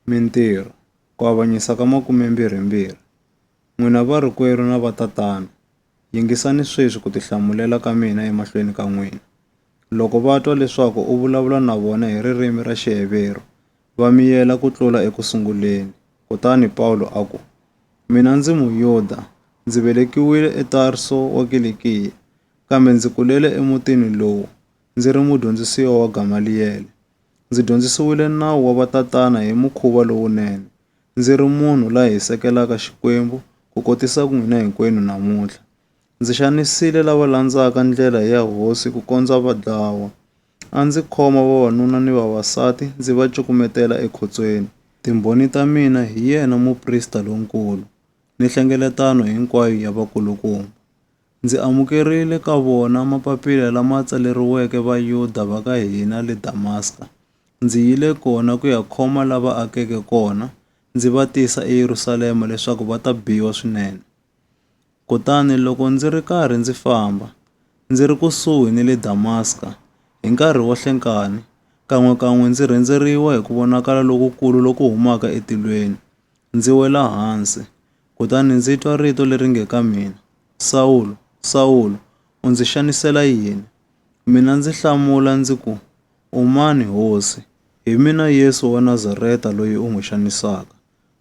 Mintirho, Ku Avanyisa ka 22 N'wina varikwerhu na vatatana, yingisani sweswi ku tihlamulela ka mina emahlweni ka n'wina. Loko va twa leswaku u vulavula na vona hi ririmi ra Xiheveru, va miyela ku tlula eku sunguleni. Kutani Pawulo a ku, Mina ndzi Muyuda, ndzi velekiwile eTarso wa Kilikiya, kambe ndzi kulele emutini lowu, ndzi ri mudyondzisiwa wa Gamaliyele. Ndzi dyondzisiwile nawu wa vatatana hi mukhuva lowunene. Ndzi ri munhu la hisekelaka Xikwembu ku kotisa ku n'wina hinkwenu namuntlha. Ndzi xanisile lava landzaka ndlela ya hosi ku kondza va dlawa. A ndzi khoma vavanuna ni vavasati ndzi va cukumetela ekhotsweni. Timbhoni ta mina hi yena muprista lonkulu ni hlengeletano hinkwayo ya vakulukumba. Ndzi amukerile ka vona mapapila lama tsaleriweke Vayuda va ka hina le Damaska. Ndzi yile kona ku ya khoma lava akeke kona, ndzi va tisa eYerusalema leswaku va ta biwa swinene. Kutani loko ndzi ri karhi ndzi famba, ndzi ri kusuhi ni le Damaska, hi nkarhi wo hlenkani, kan'we-kan'we ndzi rhendzeriwa hi ku vonakala lokukulu loku humaka etilweni, ndzi wela hansi, Kutani ndzi twa rito leri nge ka mina, Sawulo, Sawulo, u ndzi xanisela yini? Mina ndzi hlamula ndzi ku, U mani, Hosi? Hi mina Yesu wa Nazareta loyi u n'wi xanisaka.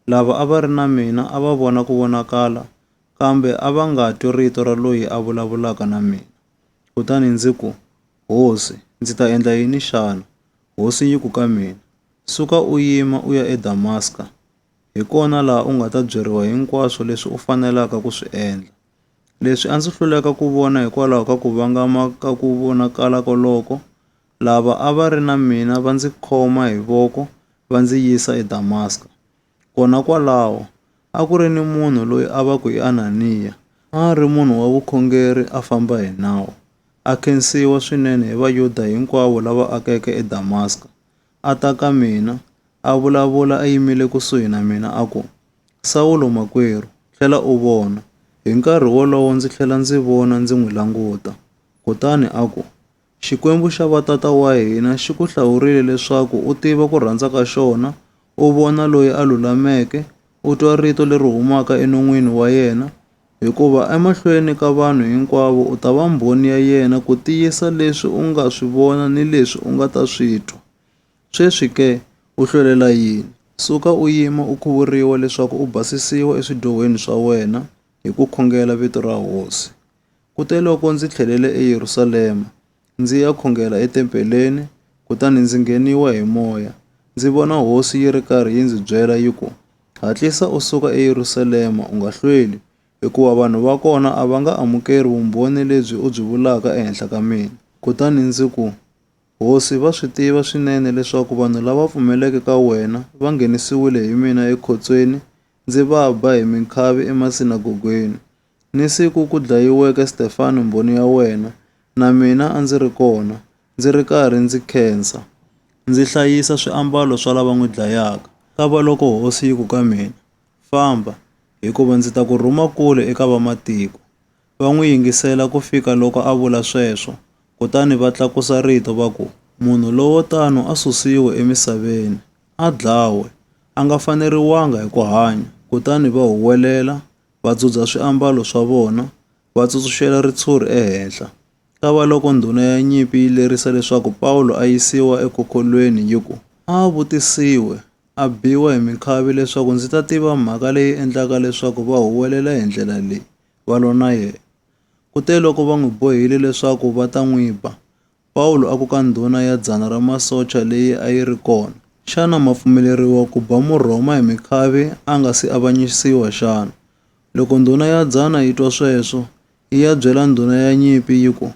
Lava a va ri na mina a va vona ku vonakala, kambe a va nga twi rito ra loyi a vulavulaka na mina. Kutani ndzi ku, Hosi, ndzi ta endla yini xana? Hosi yi ku ka mina, Suka u yima u ya eDamaska, Hi kona laha u nga ta byeriwa hinkwaswo leswi u fanelaka ku swi endla. Leswi a ndzi hluleka ku vona hikwalaho ka ku vangama ka ku vonakala koloko, lava a va ri na mina va ndzi khoma hi voko va ndzi yisa eDamaska. Kona kwalaho, a ku ri ni munhu loyi a va ku i Ananiya. A a ri munhu wa vukhongeri a famba hi nawu, a khensiwa swinene hi Vayuda hinkwavo lava akeke eDamaska. a ta ka mina, a vulavula a yimile kusuhi na mina a ku, Sawulo makwerhu, tlhela u vona. Hi nkarhi wolowo ndzi tlhela ndzi vona ndzi n'wi languta. Kutani a ku, Xikwembu xa vatata wa hina xi ku hlawurile leswaku u tiva ku rhandza ka xona, u vona loyi a lulameke, u twa rito leri humaka enon'wini wa yena, Hikuva emahlweni ka vanhu hinkwavo u ta va mbhoni ya yena ku tiyisa leswi u nga swi vona ni leswi u nga ta swi twa. Sweswi ke, u hlwelela yini? Suka u yima u khuvuriwa leswaku u basisiwa eswidyohweni swa wena hi ku khongela vito ra Hosi. Kuteloko ndzi tlhelele eYerusalema, ndzi ya khongela etempeleni, kutani ndzi ngheniwa hi moya. Ndzi vona hosi yi ri karhi yi ndzi byela yi ku, Hatlisa u suka eYerusalema, u nga hlweli, hikuva vanhu va kona a va nga amukeli vumbhoni lebyi u byi vulaka ehenhla ka mina. Kutani ndzi ku, Hosi, va swi tiva swinene leswaku vanhu lava pfumeleke ka wena va nghenisiwile hi mina ekhotsweni, ndzi va ba hi minkhavi emasinagogweni. Ni siku ku dlayiweke Stefano Mbhoni ya wena, na mina a ndzi ri kona, ndzi ri karhi ndzi khensa, ndzi hlayisa swiambalo swa lava n'wi dlayaka. Kavaloko hosi yi ku ka mina, Famba, hikuva ndzi ta ku rhuma kule eka vamatiko. Va n'wi yingisela ku fika loko a vula sweswo, kutani va tlakusa rito va ku, Munhu lowo tano a susiwe emisaveni, a dlawe! A nga faneriwanga hi ku hanya! Kutani va huwelela, va dzudza swiambalo swa vona, va tsutsuxela ritshuri ehenhla. Kavaloko ndhuna ya nyimpi yi lerisa leswaku Pawulo a yisiwa ekhokhwolweni yi ku, A vutisiwe, a biwa hi minkhavi leswaku ndzi ta tiva mhaka leyi endlaka leswaku va huwelela hi ndlela leyi, va lwa na yena. Kuteloko va n'wi bohile leswaku va ta n'wi ba, Pawulo a ku ka ndhuna ya dzana ra masocha leyi a yi ri kona, Xana ma pfumeleriwa ku ba Murhoma hi mikhavi a nga si avanyisiwa xana? Loko ndhuna ya dzana yi twa sweswo, yi ya byela ndhuna ya nyimpi yi ku,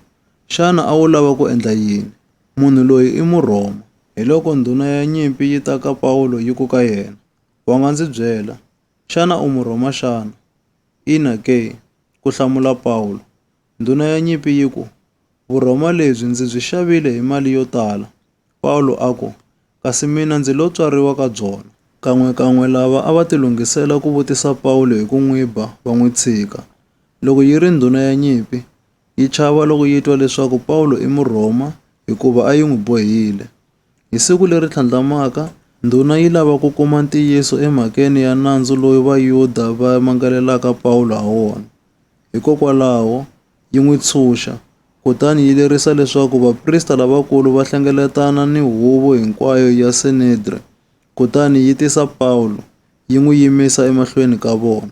Xana a wu lava ku endla yini? Munhu loyi i Murhoma. Hiloko ndhuna ya nyimpi yi ta ka Pawulo yi ku ka yena, Wa nga ndzi byela, xana u Murhoma xana? Ina ke, ku hlamula Pawulo. Ndhuna ya nyimpi yi ku, Vurhoma lebyi ndzi byi xavile hi mali yo tala. Pawulo a ku, Kasi mina ndzi lo tswariwa ka byona. Kan'we-kan'we lava a va tilunghisela ku vutisa Pawulo hi ku n'wi ba va n'wi tshika. Loko yi ri ndhuna ya nyimpi, yi chava loko yi twa leswaku Pawulo i Murhoma hikuva a yi n'wi bohile. Hi siku leri tlhandlamaka, ndhuna yi lava ku kuma ntiyiso emhakeni ya nandzu lowu Vayuda va mangalelaka Pawulo ha wona. Hikokwalaho, yi n'wi tshunxa, kutani yi lerisa leswaku vaprista lavakulu va hlengeletana ni huvo hinkwayo ya Sanedre, kutani yi tisa Pawulo, yi n'wi yimisa emahlweni ka vona.